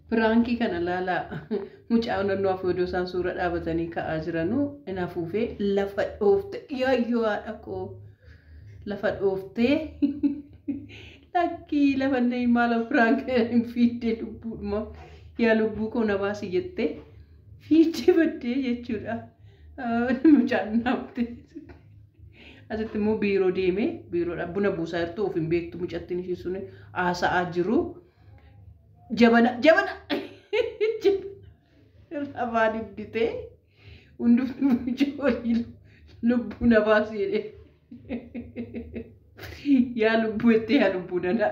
Piraankii kana laalaa mucaa naannoo afoodoo isaan suura dhaabatanii ka'aa jiranuu in afuufee lafa dhoofte yaayyoo haadha koo lafa dhooftee lakkii lafa inni maaloo piraankii hin fiiddee lubbuudhuma yaa lubbuu koo na baasi jettee fiiddee baddee jechuudha mucaan naafte asitti immoo biiroo deemee biiroodha buna buusaa jirtu of hin beektu mucattiin ishii sun haasa'aa jiru. Jabana jabana lafaa didditee hundumtuu ijoollee lubbuu na baasi jedhee. Yaa lubbuu jettee yaa lubbuu danaa.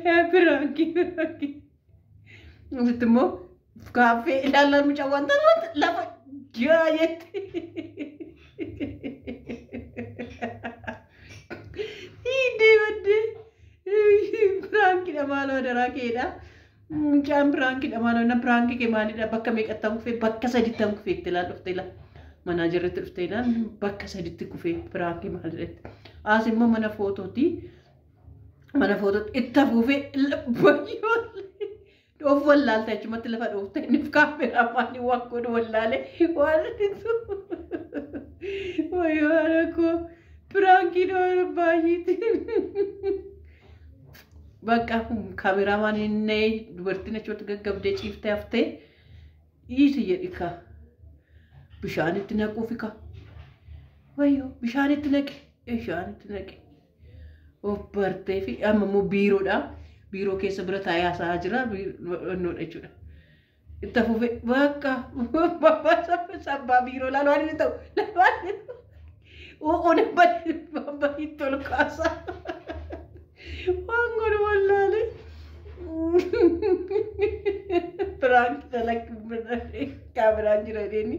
Yaa biraanki biraanki. Asitti immoo Gaaffii ilaalaa mucaa wanta wanta lafa jiraa jetti. Hiidee baddee piraankidha maaloo adaraa keedha. Mucaan piraankidha maaloo na piraankii kee maalidha bakka meeqattan kufee bakka sadittan kufee itti ilaal dhufte ilaal. Manaa jirretti dhufte ilaal bakka saditti kufee piraankii maalidha itti. As immoo mana footootii mana footootti itti afuufee bayyoo. Dhoof wallaalte achumatti lafa dhoofte inni kaameraa maaliin waan godhu wallaale waan ittisu. Wayyoo haadha koo piraankii dhoora baay'eeti. Bakka kaameraa maaliin na'ee dubartiin achumatti gaggabdee ciiftee haftee dhiisi jedhi kaa. Bishaanitti naquufi kaa. Wayyoo bishaanitti naqe bishaanitti naqe. of bartee fi amma immoo biiroodha. Biiroo keessa bira taa'ee haasa'aa jira. Biiroodha jechuudha. Itti fufee bakka sabbaa biiroo laalu waan inni ta'u laalu waan inni ta'u. Uu'uun hin badin babbadiin tolu kaasa. Waan godhu wallaalee. Biraan dalaguu biraan kaameraan jira deemni.